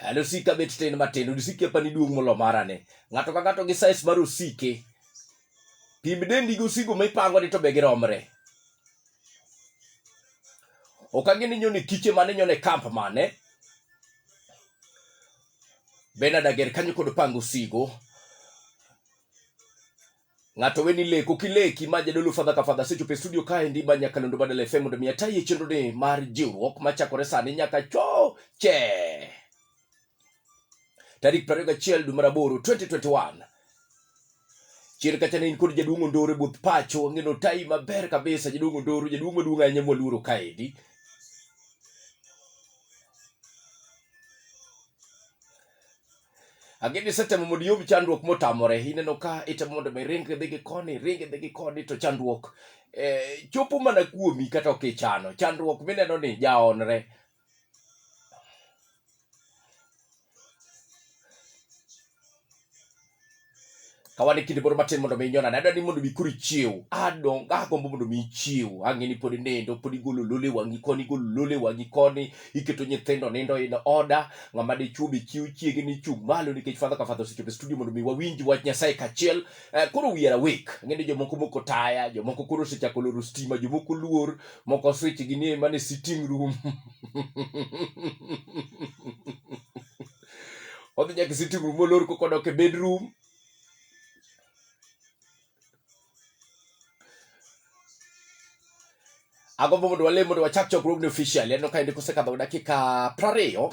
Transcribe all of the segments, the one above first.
Hali osike abet tin matin, osike apani duong' molo mara ni. Ng'ato ka ng'ato gi size mar osike. Pim dendi gi osigo ma ipango ni to be giromre. Ok ang'eni nyone kiche mane nyone kamp mane. Bernard Ager kanyo kod pango osigo. Ng'ato weni leko kileki ma jadolo fadha ka fadha sechopo e studio kae ndi ma Nyakalondo Badala FM mondo mi ataye chenro ni mar jiwruok machakore sani nyaka choche tarik 21 dwe mar aboro 2021 chien kacha ne in kod jaduong' Ondoro e buth pacho wang'eno tai maber kabisa jaduong' Ondoro jaduong' maduong' ahinya mwaluoro kaendi Ageni isetemo mondo iyub chandruok motamore, ineno ka itemo mondo mi ring dhi gi koni, ring dhi gi koni to chandruok eh, chopo mana kuomi kata ok ichano. Chandruok mineno ni jaonre. kawane kinde moro matin mondo mi inyona nadwa ni mondo mi koro ichiew adong agombo mondo mi ichiew ang'e ni pod inindo pod igolo lole wang'i koni igolo lole wang'i koni iketo nyithindo nindo in oda ng'ama dichwo be chiew chiege ni chung' malo nikech fadha ka fadha osechopo e studio mondo mi wawinj wach nyasaye kachiel eh, koro we are awake ang'e ni jomoko moko taya jomoko koro osechako loro stima jomoko luor moko switch gi ni mane sitting room odhi nyaka sitting room olor koko dok e bedroom agombo mondo walem mondo wachak chokruogni officially aneno ka endi kosekadho dakika prariyo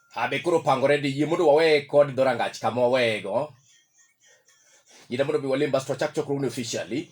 Abe koro pangore di yie mondo wawe kod dhorangach kama waweyego. Yie mondo bi walim basto wachak chokruogni officially.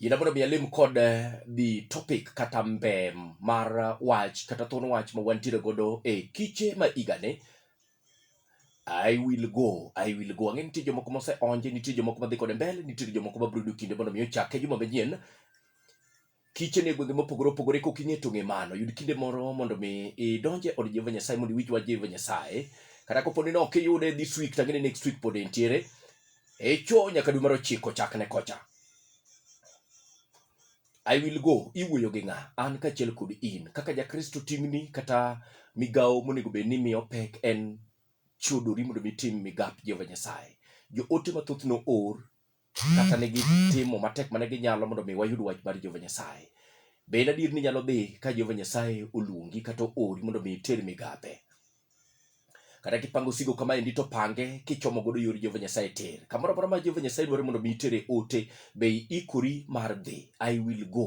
Ina mondo mi alim kod eh, the topic kata mbem mar eh, wach kata thon wach ma wantiere godo e kiche ma igane I will go, I will go. Ang'e nitie jomoko mose onje, nitie jomoko madhi kode mbele, nitie jomoko ma brudo kinde mondo mi ochake juma manyien. Kiche ne gwenge mopogore opogore kok ing'e tong'e mano. Yud kinde moro mondo mi idonje od Jehova Nyasaye mondo iwich wach Jehova Nyasaye. Kata kopo ni ne ok iyude this week, tang'e ni next week pod entiere. Echo nyaka dwe mar ochiko chakne kocha. I will go iwuoyo gi ng'a an kaachiel kod in kaka jakristo ting'ni kata migawo monego bed ni miyo pek en chodori mondo mitim migap jehova nyasaye joote mathoth no or kata ne gitimo matek mane ginyalo mondo mi wayud wach mar jehova nyasaye be en adier ni nyalo dhi ka jehova nyasaye oluongi kata oori mondo mi iter migape kata kipango osigo kama endi to pange kichomo godo yor Jehova Nyasaye ter kamoro amora ma Jehova Nyasaye dwaro mondo mi itere ote be ikori mar dhi I will go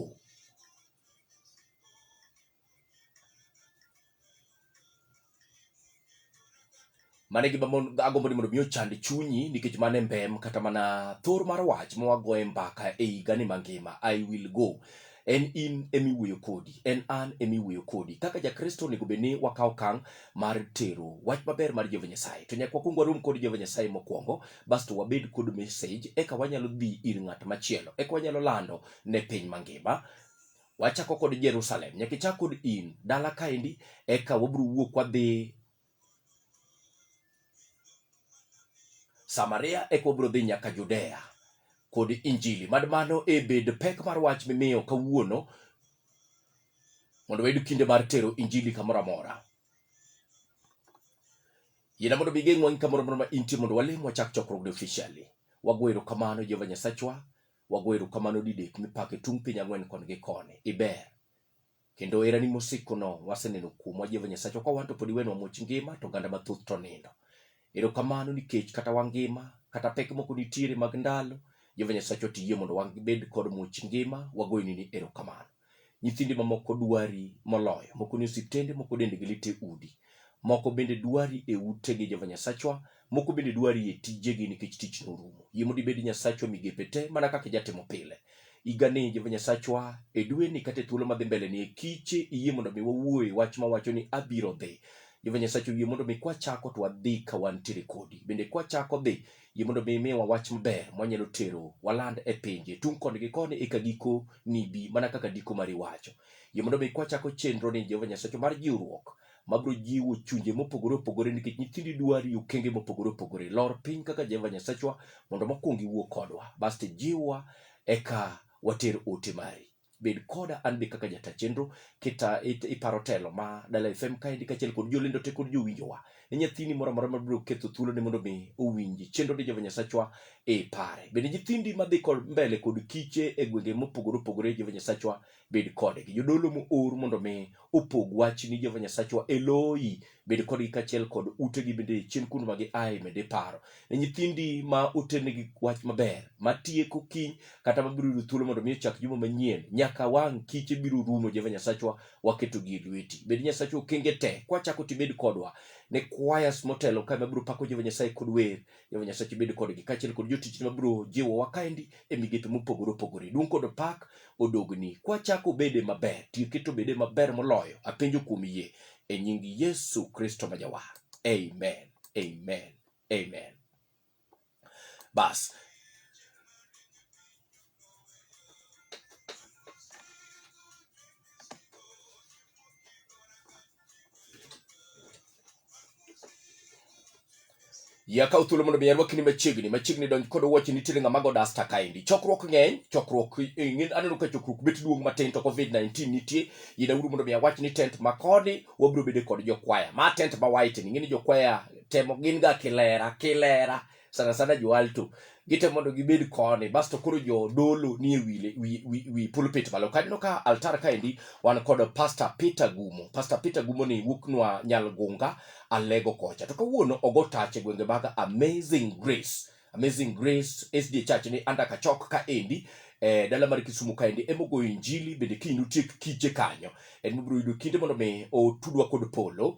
mane gi agombo ni mondo mi ochand chunyi nikech mane mbem kata mana thor mar wach ma wagoye mbaka e higa ni mangima I will go en in emiwuoyo kodi en an emiwuoyo kodi kaka jakristo onego bed ni wakawo kang mar tero wach maber mar jehova nyasaye to nyaka wakwong warom kod jehova nyasaye mokwongo basto wabed kod message eka wanyalo dhi ir ng'at machielo eka wanyalo lando ne piny mangima wachako kod jerusalem nyaka ichak kod in dala kaendi eka wabiro wuok wadhi Samaria eka wabiro dhi nyaka Judea kod Injili. Mad mano e bed pek mar wach mimiyo kawuono mondo wayud kinde mar tero Injili kamoro amora. Yiena mondo migeng'wa gi kamoro amora ma intie mondo walim wachak chokruogni officially. Wago erokamano Jehova Nyasachwa, wago erokamano didek mipake tung' piny ang'wen koni gi koni. Iber. Kendo herani mosikono waseneno kuomwa Jehova Nyasachwa ka wan to pod iwenwa much ngima to oganda mathoth to nindo. Erokamano nikech kata wangima kata pek moko nitiere mag ndalo Jehova Nyasachwa tiyie mondo wabed kod much ngima wagoyoni ni erokamano. Nyithindi mamoko dwari moloyo, moko ni osiptende, moko dendgi lit e udi. Moko bende dwari e utegi Jehova Nyasachwa Moko bende dwari e tijegi nikech tich norumo. Yie mondo ibed Nyasachwa migepe te mana kaka ijatimo pile. Igane Jehova Nyasachwa e dweni kata e thuolo madhi mbele ni e kiche iyie mondo mi wawuoye wach mawacho ni abiro dhi. Jehova Nyasachwa yie mondo mi kwachako to wadhi ka wantiere kodi. Bende kwachako dhi yie mondo mi imiwa wach maber mwanyalo tero waland e pinje tung' koni gi koni eka giko nibi mana kaka ndiko mari wacho. Yie mondo mi kwachako chenro ni Jehova Nyasachwa mar jiwruok mabiro jiwo chunje mopogore opogore nikech nyithindi dwari okenge mopogore opogore lor piny kaka jehova nyasachwa mondo mokwongo iwuo kodwa basto jiwwa eka water ote mari bed koda an be kaka jata chenro kita it- iparo telo ma dala fm kaendi kaachiel kod jolendo te kod jowinjowa ne nyathini moro amora mabiro ketho thuolone mondo mi owinji chenro ni jehova nyasachwa e pare bende nyithindi madhi kod mbele kod kiche e gwenge mopogore opogore jehova nyasachwa bed kodgi. Jodolo moor mondo mi opog wach ni Jehova Nyasachwa Eloi bed kodgi kachiel kod utegi bende chien kuno ma giaye med iparo. Ne nyithindi ma oternegi wach maber ma tieko kiny kata mabiro yudo thuolo mondo mi ochak juma manyien nyaka wang' kiche biro rumo Jehova Nyasachwa waketogi e lweti. Bed Nyasachwa okenge te kwachako tibed kodwa ne kwayas motelo kae mabiro pako Jehova Nyasaye kod wer Jehova Nyasaye bed kodgi kaachiel kod jotichni mabiro jiwowa kaendi e migepe mopogore opogore. Duong' kod pak odogni. Kwachako bede maber, tiyo keto bede maber moloyo. Apenjo kuom yie e nying Yesu Kristo ma jawar. Amen. Amen. Amen. Bas. ya kaw thuolo mondo mi arwaki ni machiegni machiegni donj kod wuoche nitiere ng'ama go dasta kaendi chokruok ng'eny chokruok eh, ng'eny aneno ka chokruok bet duong' matin to covid 19 nitie yina uru mondo mi awach ni tent ma koni wabiro bede kod jokwaya ma tent ma white ni ng'eni jokwaya temo gin ga kilera kilera sana sana jo alto gite mondo gibed koni basto koro jo dolo ni e wi, wi, wi, wi pulpit malo kaneno ka altar kaendi wan kod pastor peter gumo pastor peter gumo ni wuoknwa nyalgunga alego kocha to kawuono ogo tach e gwenge mag amazing grace amazing grace sd church ni anda kachok kaendi eh, dala mar kisumu kaendi emogoyo injili bende kiny nutiek kiche kanyo en mibiro yudo kinde mondo mi otudwa kod polo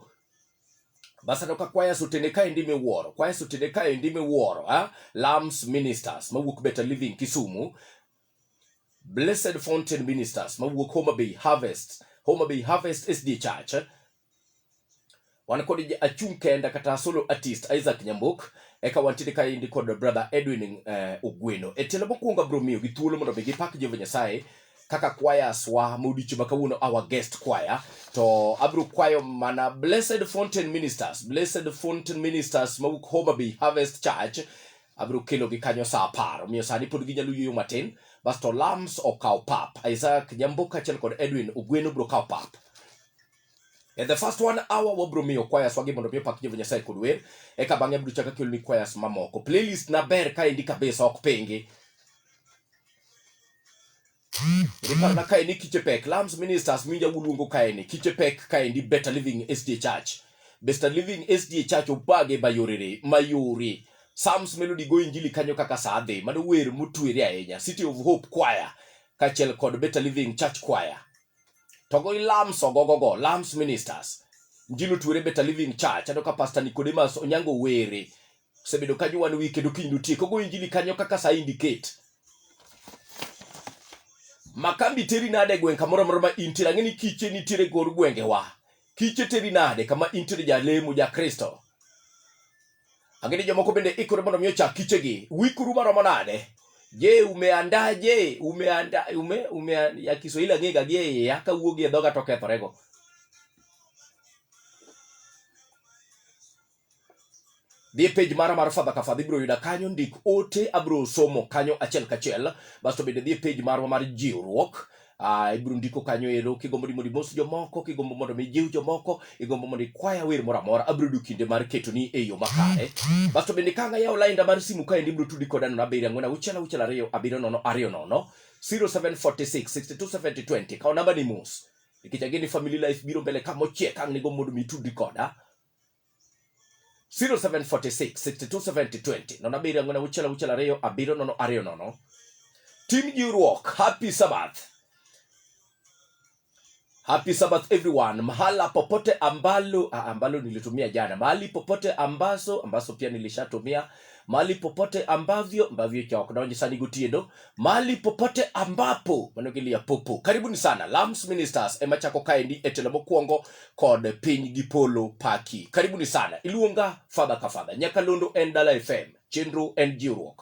Basandoka Choirs otene kaendi miwuoro, Choirs otene kaendi miwuoro, ha? Ah, Lambs Ministers mawuok Better Living Kisumu, Blessed Fountain Ministers mawuok Homa Bay Harvest, Homa Bay Harvest SD Church. Wan kod achung' kenda kata solo artist Isaac Nyambok, eka wantiere kaendi kod brother Edwin uh, Ogweno. E tielo mokwongo abiro miyo gi thuolo mondo mi gipak Jehova Nyasaye kaka choirs wa modich ma kawuono our guest choir to abro kwayo mana blessed fountain ministers blessed fountain ministers mawuok Homa Bay Harvest Church abro kelo gi kanyo saa apar omiyo sani pod ginyalo yueyo matin basto lams okaw pap Isaac Nyambo kaachiel kod Edwin Ogweno bro kaw pap And the first one hour wabro miyo choirs wagi mondo mi opak Jehova Nyasaye kod wer eka bang'e abro chaka keloni choirs mamoko playlist na ber kaendi kabisa ok pingi Riparna kaendi Kichepek, Lambs Ministers minja guluongo kaendi Kichepek kaendi Better Living SDA Church. Better Living SDA Church obage bayorere mayore. Psalms Melody go injili kanyo kaka saa dhi mano wer motwere ahinya City of Hope Choir kachiel kod Better Living Church Choir. To go Lambs ogogogo Lambs Ministers. Njilo twere Better Living Church andoka Pastor Nicodemus Onyango were osebedo ka jwan wi kendo kiny notiek ogo injili kanyo kaka sa indicate makambi teri nade gweng' kamoro amora ma intiere ang'e ni kiche nitiere gor gwengewa kiche teri nade kama intiere jalemo ja kristo ang'e ni jomoko bende ikore mondo mi ochak kichegi wikuru maromo nade je umeandaje umeanda ume, ume, ya kiswahili ang'ega gi e iya kawuogi e dhoga to kethorego dhi e page mara mar Father Kafa ibiro yuda kanyo, ndik ote, abiro somo kanyo achiel kachiel. Basto bende dhi e page marwa mar jiwruok Uh, ibiro ndiko kanyo ero kigombo ni mondo imos jomoko kigombo mondo mijiw jomoko igombo mondo ikwaya wer moro amora abiro yudo kinde mar ketoni e yo makare basto bende ka ang'ayawo lainda mar simu kaendi ibiro tudi koda nono abiriyo ang'wen auchiel auchiel ariyo abiriyo nono ariyo nono 0746 627020 kawo namba ni mos nikech ageni family life biro mbele ka mochiek ang' nigo mondo mitudi koda 0746627020 nono abiriyo ang'wen auchiel auchiel ariyo abiriyo nono ariyo nono tim jiwruok happy sabbath happy sabbath everyone mahala popote ambalo ah, ambalo nilitumia jana mahali popote ambazo ambazo pia nilishatumia mahali popote ambavyo ambavyo cha wakunaonye sani gutiendo mahali popote ambapo manogilia popo karibuni sana lams ministers ema chako kaendi etelo mokwongo kod piny gi polo paki karibuni sana iluonga fadha ka fadha nyakalondo en dala fm chenro en jiwruok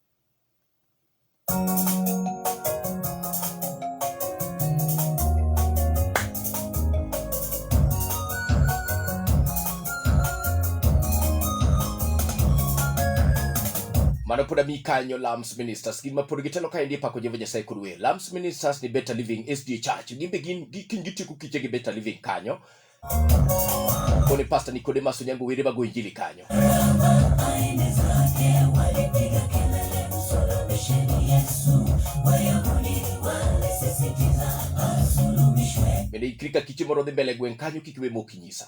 mano pod ami kanyo lams ministers gin ma pod gitelo ka endi pako jehova nyasaye kod wer lams ministers ni better living sda church gin be gin gi- gin gitieko kiche gi better living kanyo Kone pasta Nicodemus Onyango Were bago injili kanyo. Bende ikri ka kiche moro dhi mbele gweng' kanyo kik we mokinyisa.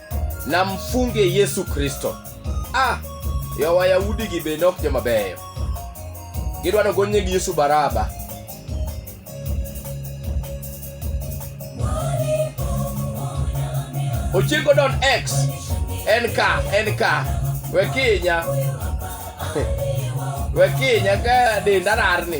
na mfunge Yesu Kristo. Ah, yo Wayahudi gi bende ok joma beyo. Gidwa no gonye gi Yesu Baraba. Ochengo don X en ka en ka we kinya we kinya ka denda rarni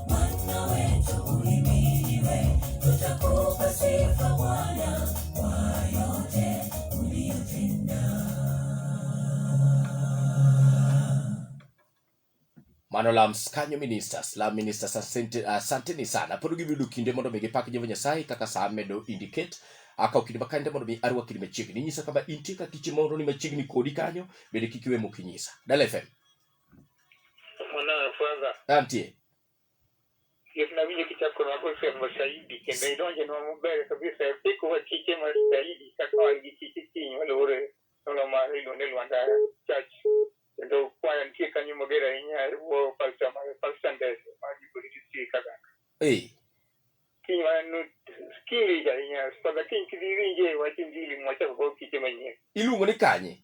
Bwana wetu uhimidiwe, tutakupa sifa Bwana kwa yote uliyotenda. mano lams kanyo ministers lam ministers asante- asanteni sana pod gibiyudo kinde mondo mi gipak jehova nyasaye kaka saa medo indicate akaw kinde makande mondo mi arwakni machiegni inyisa kama intie ka kiche mondo ni machiegni kodi kanyo bende kik iwe mok inyisa dala fm Atie. Yesu na winjo kichako kono ako sio mashahidi kendo idonje no mubere kabisa e piko wa kike ma shahidi kaka wa gi kike kinyi wale ore nono ma hilo ne lwanda church kendo kwaya nitie kanyo mager ahinya e wo falsa ma falsa ndese ma gi polisi si kaka Eh. kinyi ma no kinyi ahinya spada kinyi kidiri nje wa kinyi mwacha ko kike manyien Iluongo ni kanye?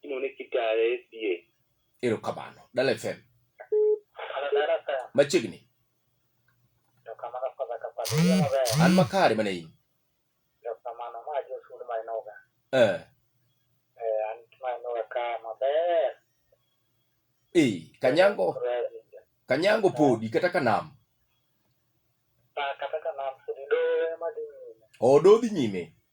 inone kitaya e sie erokamano dala fm machiegni an makare mana in eh. eh, kanyango kanyango podi kata kanam ah, kata kanam odo dhi nyime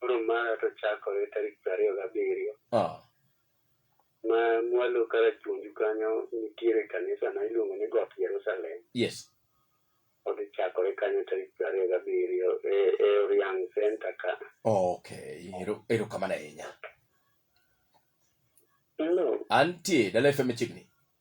Koro mara to chakore tarik piero ariyo gabiriyo. Ah. Ma mwalo kar chunju kanyo nitiere kanisa ma iluongo ni Got Jerusalem. Yes. Odhi chakore kanyo tarik piero ariyo gabiriyo e, e Oriang Center ka. Okay. Ero, ero kamano ahinya. Hello. Antie, Dala FM chiegni.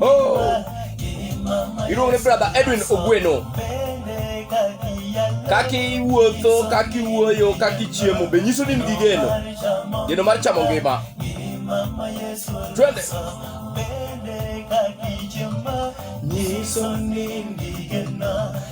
Oh. Iluongo ni brother Edwin Ogweno. Kaka iwuotho, kaka iwuoyo, kaka ichiemo be nyiso ni nigi geno. Geno mar chamo ngima. Twende. Nyiso ni nigi geno.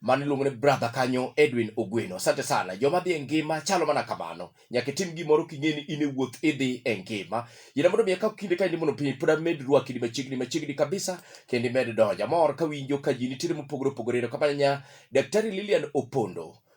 mane iluongo ni brother kanyo Edwin Ogweno. Asante sana. Joma dhi e ngima chalo mana kamano. Nyaka itim gimoro king'e ni in e wuoth idhi e ngima. Yina mondo miya ka kinde ka indi mondo piny pod amed rwaki di machiegni machiegni kabisa kendo imed donja. Mor ka winjo ka ji nitiere mopogore opogore. Ero kamanya Daktari Lilian Opondo.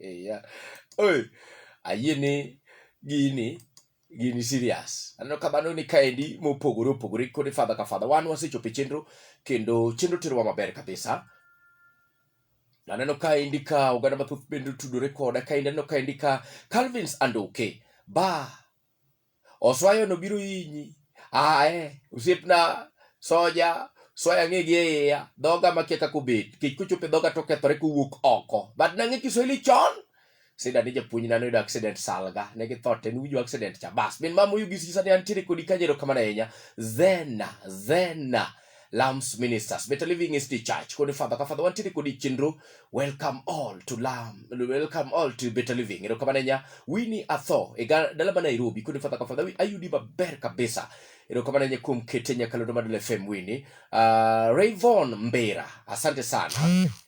Ya. Oi, ayie ni gini gini serious aneno ka mano ni kaendi mopogore opogore kod fadha ka fadha wan wasechopo e chenro kendo chenro terowa maber kabisa aneno kaendi ka oganda mathoth bende otudore koda kaendi aneno kaendi ka calvins andoke ba Oswayo no biro inyi. Ae, usiepna soja soya ng'e gi iya dhoga makia kaka obet kech kochope dhoga to kethore kowuok oko but nang'e kiswahili chon sida ni japuonj nano yudo accident salga ne gi thote ni ujo accident cha bas min mama uyu gisi sani antiere kodi kajero kamana enya zena zena Lambs Ministers, Better Living is the Church. Kodi Father, ka Father wantiri kodi chinru. Welcome all to Lamb. Welcome all to Better Living. Ero kama nenya, wini atho. Ega dalama Nairobi. Kodi Father, ka Father, we ayudi maber kabisa. Ero kama nenya kum kete nya kalodo madule FM wini. Uh, Rayvon Mbera. Asante sana.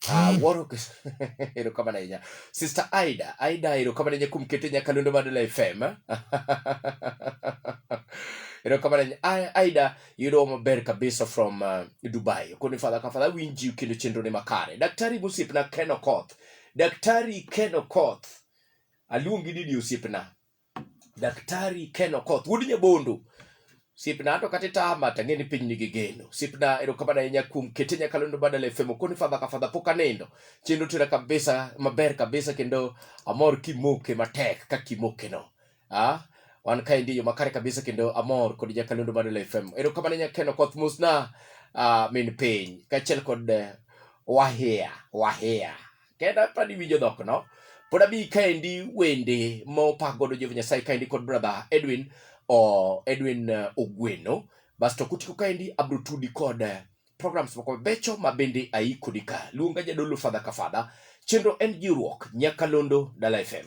Uh, Warwick. ero kama nenya. Sister Aida. Aida, ero kama nenya kum kete nya kalodo madule FM. ero kama nenya. Aida. yudo maber kabisa from uh, dubai koni fadha ka fadha winji kendo chenro ne makare daktari gosiepna ken okoth daktari ken okoth aluongi nini osiepna daktari ken okoth wuod nyabondo osiepna ato kata itama to ang'e ni piny nigi geno osiepna erokamano ahinya kuom kete nyakalondo badala efemo koni fadha ka fadha pok anindo chenro tera kabisa maber kabisa kendo amor kimoke matek ka kimokeno Ah, wan ka endi yo makare kabisa kendo amor kod jakalendo mar Lila FM. Ero kamane nyakeno koth musna ah, min piny kachiel kod eh, wahia wahia kenda pani winjo dhok no pod abi kaendi wende mopak godo Jehova Nyasaye kaendi kod brother Edwin o Edwin eh, Ogweno basto kutiko kaendi abro tudi kod eh, programs moko becho ma bende aikodi ka luonga jadolo fadha ka fadha chenro en jiwruok nyakalondo Dala FM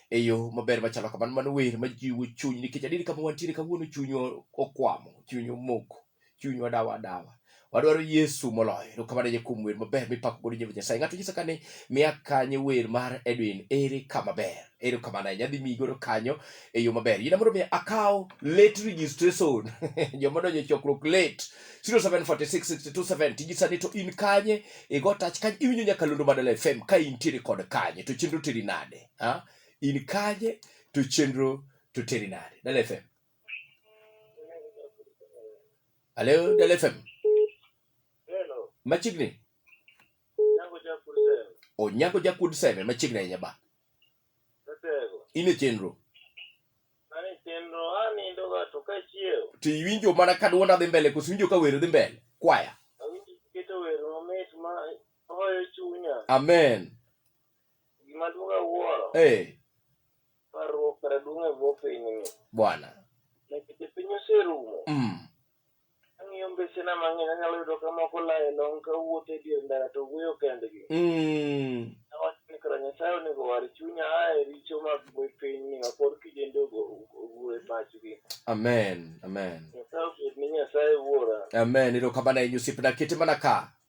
e yo maber machalo kamano. Mano wer majiwo chuny nikech adier kama wantiere kawuono chunywa okwamo, chunywa omoko, chunywa dawa dawa. Wadwaro Yesu moloyo. Erokamano ahinya kuom wer maber mipako godo Jehova Nyasaye. Ng'ato nyisa kane miya kanye wer mar Edwin ere kama ber. Erokamano ahinya adhi miyi godo kanyo e yo maber. Yina mondo mi akaw late registration. Joma donjo e chokruok late 07466270 tijisa ni to in kanye igo touch kanye iwinjo nyaka Londo Mandala FM ka intiere kod kanye to chenro teri nade. ha? in kaje to chenro to teri nade dala fm alo dala fm Hello, machiegni yangu cha kusema. onyago jakud seme machiegni ahinya ba Tetego. in e chenro Ani chenro ani ndo ga to kachiew. to iwinjo mana ka dwonda dhi mbele koso iwinjo ka wero dhi mbele kwaya Awinji keto wer mamit ma hoyo chunya. amen Gima duong' awuoro. Eh. Parruok kara duong' e bwo pinyni. Bwana. Nikech piny oserumo. Mm. Ang'iyo mbesena mang'eny anyalo yudo ka moko laye long ka wuotho e dier ndara to wuoyo kendgi. Mm. Awacho ni kara Nyasaye onego war chunya a e richo mag bwe pinyni ma pod kijende ogur e pachgi. Amen. Amen. Nyasaye obed ni Nyasaye wuora. Amen. Ero kamano e nyusipna kete mana ka.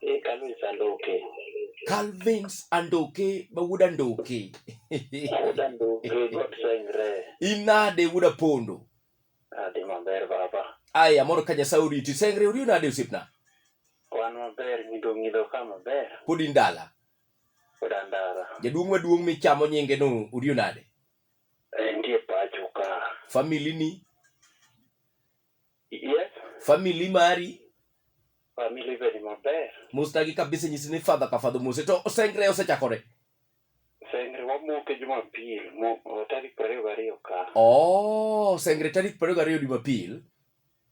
Eh, Calvin Sandoke. Calvins Andoke ma wuod Andoke. Wuod Andoke, God sengre. Inade wuod Apondo? Adhi maber baba. Aya, mondo ka Nyasaye oriti. Sengre ori nade osiepna? Wan maber, nyido nyido ka maber. Pod in dala. Pod an dala. Jaduong' maduong' michamo nyinge no ori nade? Entie pacho ka. Famili ni Yes, family mari family bedi maber. mustagi kabisa nyisi ni fadha ka fadho mose to osengre osechakore Sengre wamoke Jumapil mo o tarik prariyo gariyo ka. oh sengre tarik prariyo gariyo jumapil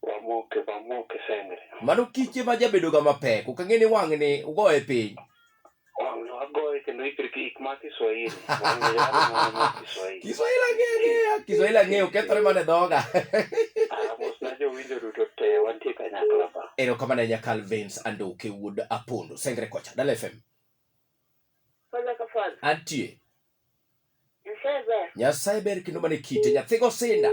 Wamoke wamoke sengre. mano kiche ma jabedoga mapek ok ang'e ni wang'ni ugoye piny Kiswahili ang'eyo, Kiswahili ang'eyo, kethore mana e dhoga. Erokamano ahinya Calvins Andoke wuod Apondo, Sengre kocha, Dala FM. Antie. Nyasaye ber kendo mana e kite, nyathigo sinda.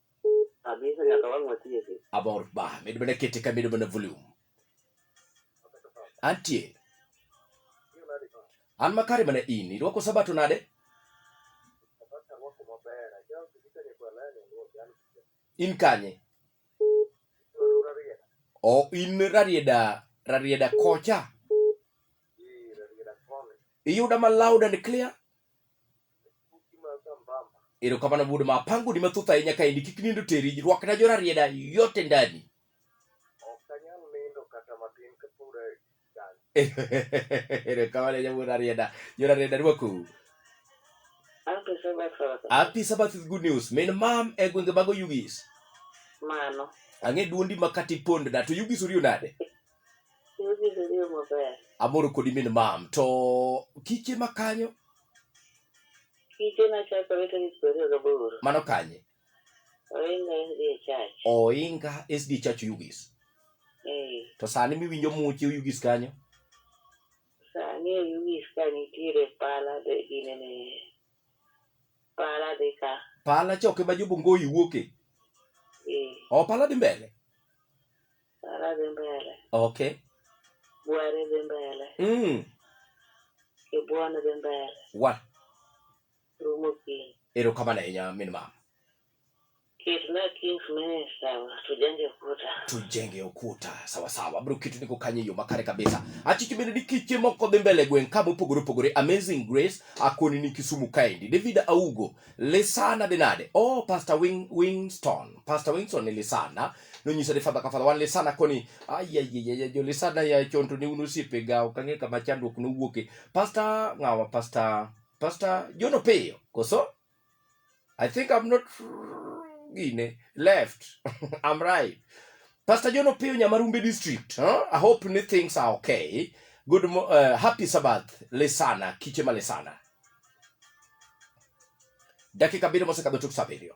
Abisa nyaka wang' watieki. Abor ba, medo mana kete ka medo mana volume. Antie. An makare mana in, irwako sabato nade? In kanye? O in rarieda, rarieda kocha. Iyuda ma loud and clear? erokamano wuod ma apangoni mathoth ahinya ka endi kik nindo teri rwakna jorarieda yote ndani erokamano ahinya wuod arieda jorarieda rwakou Happy Sabbath, Father. Happy Sabbath is good news. Min mam e gwenge mago Yugis. Mano. Ang'e duondi makati pondna to Yugis uriyo nade? Amoro kodi min mam. To kiche ma kanyo? Kiche na chakore tarik piero ariyo gaboro. Mano kanye? Oinga SD Church. Oinga SD Church Yugis. Eh. To sani miwinjo muche Yugis kanyo? Sani Yugis ka nitiere pala de ginene. Pala de ka. Pala choke ma jobongo iwuoke. Eh. O pala di mbele. Tala dhi mbele. Okay. Bware dhi mbele. Mm. Kibuon dhi mbele. Wa. Rumo piny. Erokamano ahinya min mama. Kitna Kings Minister tujenge ukuta. Tujenge ukuta. Sawa sawa. Bro kitu niko kanye yo makare kabisa. Achi kibende ni kiche moko dhi mbele gwen kabo pogore pogore Amazing Grace akoni ni Kisumu kaendi. David Augo Lesana Denade. Oh Pastor Wing Wingston. Pastor Wingston ni Lesana. nonyisa ni fadha ka fadha wan lisana koni ayayeyeye jolisana ya chonto ne un osiepe ga ok ang'e kama chandruok nowuoke pasta ng'awa pasta pasta jono piyo koso i think i'm not gine left i'm right pasta jono piyo nyamarumbe district huh? i hope ni things are okay good mo- uh, happy sabbath lisana kiche ma lisana dakika abiriyo mosekadho tuk sa abiriyo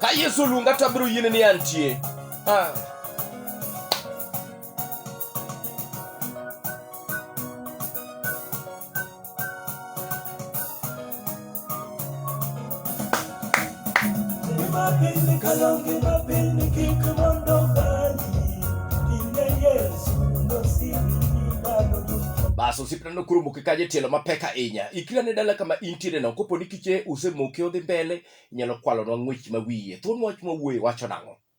Ka Yesu luonga to abiro yiene ni antie. Ah. bas osiep nano koro moke kaje tielo mapek ahinya ikira ne dala kama intiere no kopo ni kiche usemoke odhi mbele inyalo kwalonwa ng'wech ma wiye thuon wach ma wuoye wacho nang'o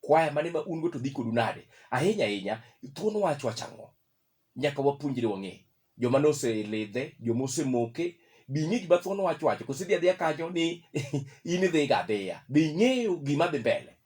Kwaya mane ma un go to dhi kodu nade? Ahinya ahinya, thuon wach wacho ang'o? Nyaka wapuonjre wang'e. Joma noselidhe, joma osemoke, be ing'e gima thuon wach wacho? Koso idhi adhiya kanyo ni in idhiga adhiya? Be ing'eyo gima dhi mbele?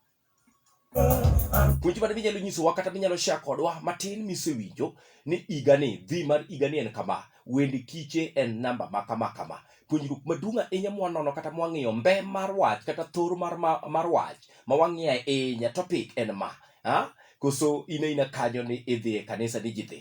Puonj mane minyalo nyisowa kata minyalo share kodwa matin misewinjo ni igani, dhi mar igani en kama, wend kiche en namba ma kama kama. puonjruok maduong' ahinya mwanono kata mwang'iyo mbe mar wach kata thoro mar, mar, mar wach ma wang'iyo ahinya topic en ma ha? koso in aina kanyo ni idhi e kanisa ni ji dhi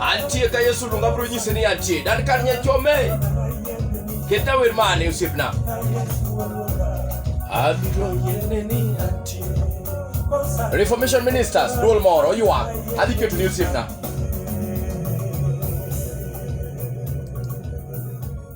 Antie ka Yesu lunga bro nyise ni antie dan kan nya chome keta wer mane usipna abiro yene ni antie Reformation Ministers duol moro yuak adhi keto ni usipna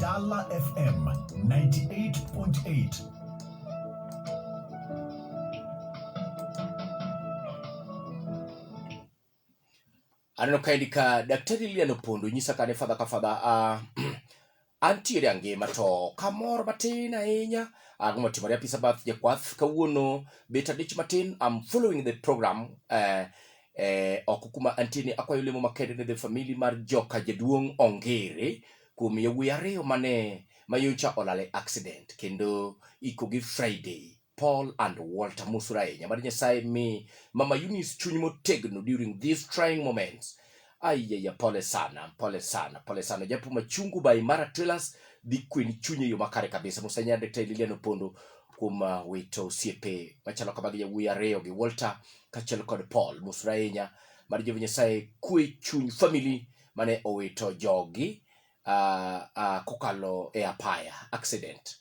Dala FM 98.8 aneno kaendi ka daktari Lilian Opondo nyisa kane fadha ka fadha uh, Antiere angima to kamor matin ahinya ago motimore apisa bath jakwath kawuono bet adich matin I'm following the program eh, eh, oko kuma antie ni akwayo lemo makende ne the family mar joka jaduong' ongere kuom yawuoyi ariyo mane mayocha olal e accident kendo ikogi Friday Paul and Walter mosura ahinya mad Nyasaye mi mama Eunice chuny motegno during these trying moments aiyeya pole sana pole sana pole sana japo machungu by Mara Trailers dhi kweni chuny e yo makare kabisa musanya Dr. Lilian Opondo kuom uh, wito osiepe machalo kama gi yawuoyi ariyo gi Walter kaachiel kod Paul mosura ahinya mad Jehova Nyasaye kwe chuny family mane owito jogi uh, uh, kokalo e apaya accident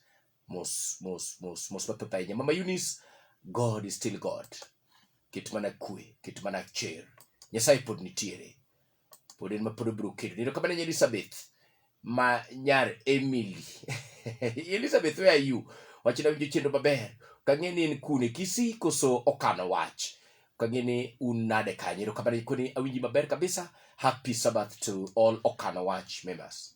mos mos mos mos mathoth ahinya mama Eunice God is still God ket mana kwe ket mana cher Nyasaye pod nitiere pod en ma pod obiro kedo neno kamano nyar Elizabeth ma nyar Emily Elizabeth where are you wach na winjo chenro maber kang'e ni en kune kisi koso okano wach kang'e ni un nade kanyo ero kamano koni awinji maber kabisa happy sabbath to all okano wach members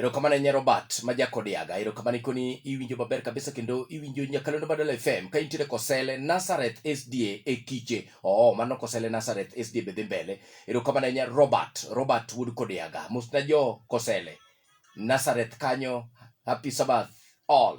Erokamano Nyar Robert ma Jakodiaga, erokamano ikoni iwinjo maber kabisa kendo iwinjo Nyakalondo Badala FM ka intiere Kosele Nazareth SDA e Kiche. Oo, mano Kosele Nazareth SDA be dhi mbele. Erokamano Nyar Robert, Robert Wuod Kodiaga. Mosna jo Kosele Nazareth kanyo, happy Sabbath all.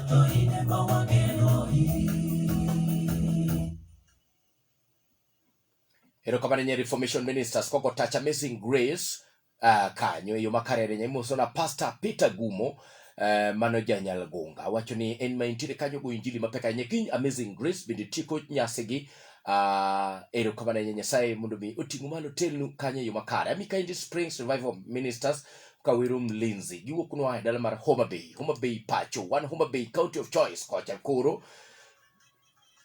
erokamano nye reformation ministers koko touch amazing grace uh, kanyo e yo makarere nya imoso na pastor peter gumo uh, mano janyal gunga wacho ni en ma intiere kanyo go injili mapek ahinya kiny amazing grace bende tieko nyasigi uh, erokamano nye nyasaye mondo mi oting'u malo telnu kanyo e yo makare ami kaindi springs revival ministers Kawiru Mlinzi giwuok nwa e dala mar Homa Bay, Homa Bay pacho, wan Homa Bay county of choice kocha koro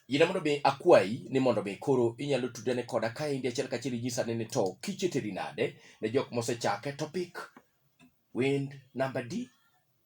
yina mondo mi akwayi ni mondo mi koro inyalo tudane koda ka indi achiel kachiel inyisa ni to kicheteri nade ne jok mosechake topic wind number D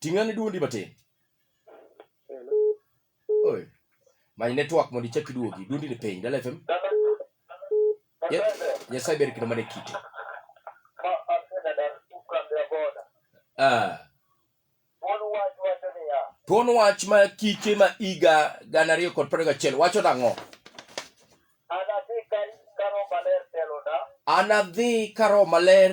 Ting'ane duondi matin. Oi. Many network mondo ichak iduogi. Duondi ni piny. Dala FM. Nyasaye ber kendo mana e kite. Ah. Thuon wach ma kike ma higa gana ariyo kod piero gachiel wacho nang'o? Anadhi ka Roho Maler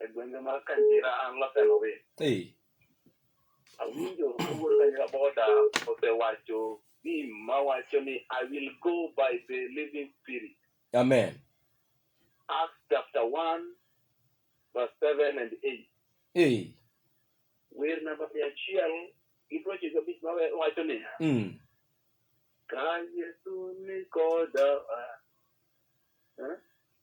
e gwenge mar Kandira an Laseno West. Hey. Awinjo kawuono kanyira boda osewacho ni mawacho ni I will go by the living spirit. Amen. Acts chapter 1 verse 7 and 8. Hey. Wer namba mia achiel gi piero ochiko gabich mawacho niya. Mm. Ka Yesu ni koda. Eh?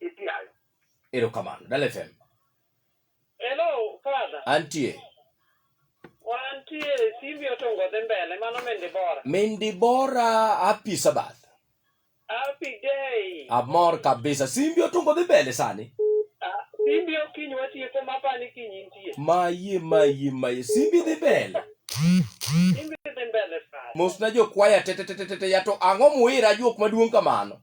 Itiayo. Erokamano. Dala FM. Hello, Father. Antie. Wantie simbi otongo dhi mbele, mano Mendi Bora. Mendi Bora, happy Sabbath. Happy day. Amor kabisa. Simbi otongo dhi mbele sani. Ah, simbi okinyi watieko mapani kinyi nitie. Maye, maye, maye. Simbi dhi mbele. Simbi dhi mbele, Father. Mosna jo kwaya tetetetete, yato ang'o muira juok maduong' kamano.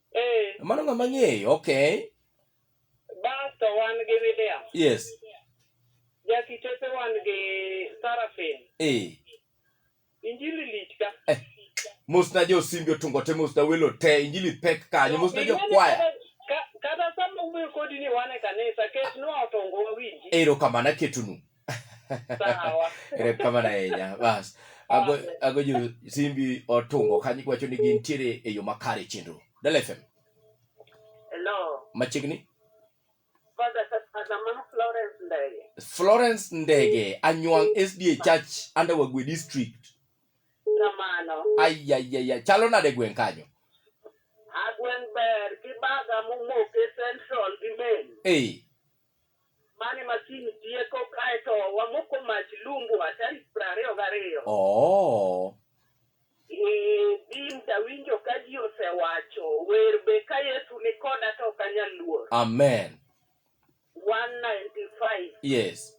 Eh. Mano ng'ama ng'eyo, okay. Basto wan gi William. Yes. Jakitepe wan gi Sarafin. Eh. Injili lich ka. Eh. Musna jo simbi otungo te musna welo te injili pek kanyo musna jo kwaya. Kata sama wuoyo kodi ni wane kanisa ket nwa otongo wawinji. Ero kamana ketunu. Sawa. erekamana ahinya bas ago ago jo simbi otungo kanyo wacho ni gintiere e yo makare e chenro Dala FM Hello. machiegni Father Kasamama Florence Ndege. Florence Ndege Anywang SDA Church under Wagwe District Kamano. ayayaya chalo nade gweng' kanyo Agwen ber gi baga momok e Central gi Main. ei Mane masin tieko kae to wamoko mach lumbwa tarik piero ariyo gariyo. Oh. Eh, Bim tawinjo ka ji osewacho wer be ka Yesu ni koda to ok anyal luor. Amen. 195 Yes.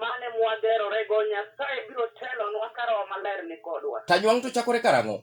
mane mwagerorego Nyasaye biro telonwa ka Roho Maler ni kodwa. Tanywang' to chakore karang'o?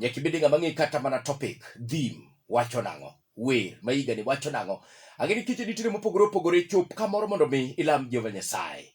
nyaka ibed ng'ama ng'e kata mana topic theme wacho nang'o wer ma higani wacho nang'o ang'e ni kiche nitiere mopogore opogore chop kamoro mondo mi ilam jehova nyasaye